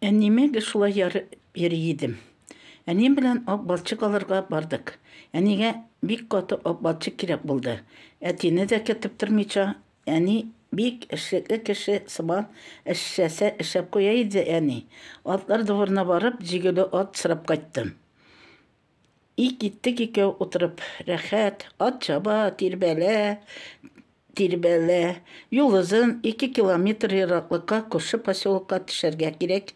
Әниемә шулай ярып йөри идем. Әнием белән ак балчык алырга бардык. Әнигә бик каты ак балчык кирәк булды. Әтине дә кертеп тормыйча, әни бик эшлекле кеше сыман эшләсә эшләп куя иде әни. Атлар дворына барып, җигүле ат сорап кайттым. И киттек икәү утырып рәхәт, ат чаба, тирбәлә, тирбәлә. Юл озын, ике километр ераклыкка күрше поселокка төшәргә кирәк.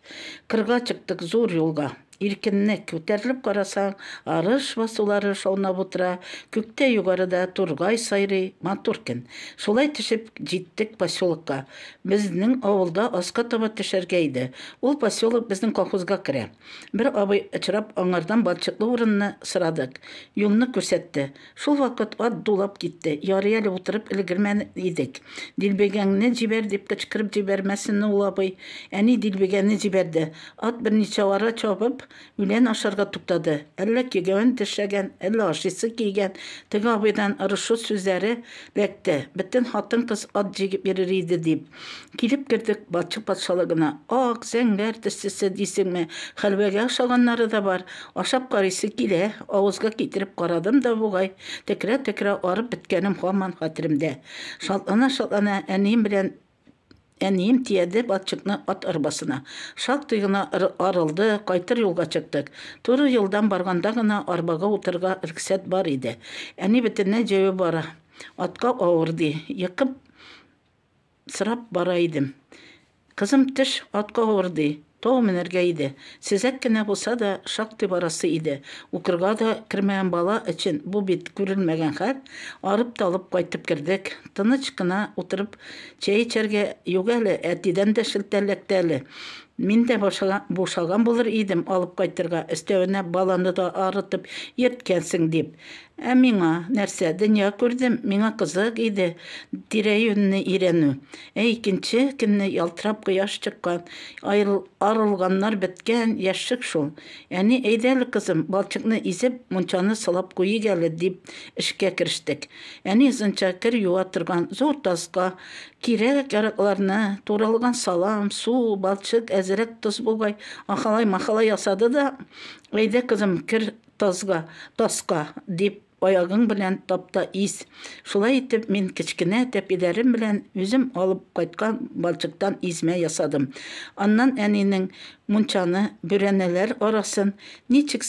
Кырга чыктык, зур юлга. Иркенлек. Күтәрелеп карасаң, арыш басулары шаунап утыра, күктә югарыда тургай сайрый, матур көн. Шулай төшеп, җиттек поселокка. Безнең авылга аска таба төшәргә иде. Ул поселок безнең колхозга керә. Бер абый очрап, аңардан балчыклы урынны сорадык. Юлны күрсәтте. Шул вакыт ат дулап китте. Ярый әле утырып өлгермән идек. Дилбегәңне җибәр, дип кычкырып җибәрмәсен ул абый. Әни дилбегәне җибәрде. Ат берничә ара чабып, үлән ашарга туктады. Әллә кигәвен тешләгән, әллә ашыйсы килгән, теге абыйдан орышу сүзләре ләкте, бөтен хатын-кыз ат җигеп йөрер иде, дип. Килеп кердек, Батчык патшалыгына. Ак, зәңгәр төстесе дисеңме, хәлвәгә охшаганнары да бар. Ашап карыйсы килә. Авызга китереп карадым да бугай, төкерә-төкерә арып беткәнем һаман хәтеремдә. Шатлана-шатлана әнием белән әнием тияде Батчыкны ат арбасына. Шактый гына арылды, кайтыр юлга чыктык. Туры юлдан барганда гына арбага утырырга рөхсәт бар иде. Әни бөтенләй җәяү бара, атка авыр, ди. Йокым сорап бара идем. Кызым теш атка авыр ди, тау менәргә иде. Сизәк кенә булса да, шактый барасы иде. Укырга да кермәгән бала өчен бу бит күрелмәгән хәл. Арып-талып кайтып кердек. Тыныч кына утырып чәй эчәргә, юк әле, әтидән дә шелтә эләкте әле. Мин дә бушаган булыр идем алып кайтырга, өстәвенә баланы да арытып йөрткәнсең дип. Ә миңа, нәрсә, дөнья күрдем, миңа кызык иде тирә-юньне өйрәнү. Ә икенче көнне ялтырап кояш чыккан, арылганнар беткән яшьлек шул. Әни, әйдә әле, кызым, балчыкны изеп, мунчаны сылап куйыйк әле, дип, эшкә керештек. Әни озынча кер юа торган зур таска, кирәк-яракларны, туралган салам, су, балчык, әзрәк тоз бугай, ахалай-махалай ясады да, Әйдә, кызым, кер Тазга, таска, дип, аягың белән тап та из. Шулай итеп, мин кечкенә тәпиләрем белән үзем алып кайткан балчыктан измә ясадым. Аннан әнинең мунчаны, бүрәнәләр арасын ничек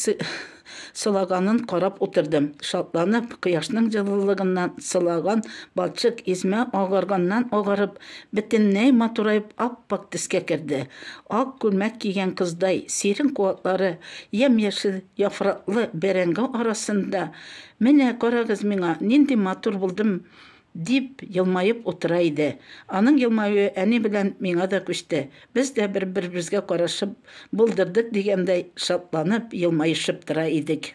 сылаганын карап утырдым. Шатланып, кояшның җылылыгыннан сылаган балчык измә агарганнан-агарып, Бөтенләй матураеп ап-ак төскә керде. Ак күлмәк кигән кыздай сирень куаклары, ямь-яшел яфраклы бәрәңге арасында, Менә карагыз миңа, нинди матур булдым! дип елмаеп утыра иде. Аның елмаюы әни белән миңа да күчте. Без дә бер-беребезгә карашып, булдырдык дигәндәй шатланып, елмаешып тора идек.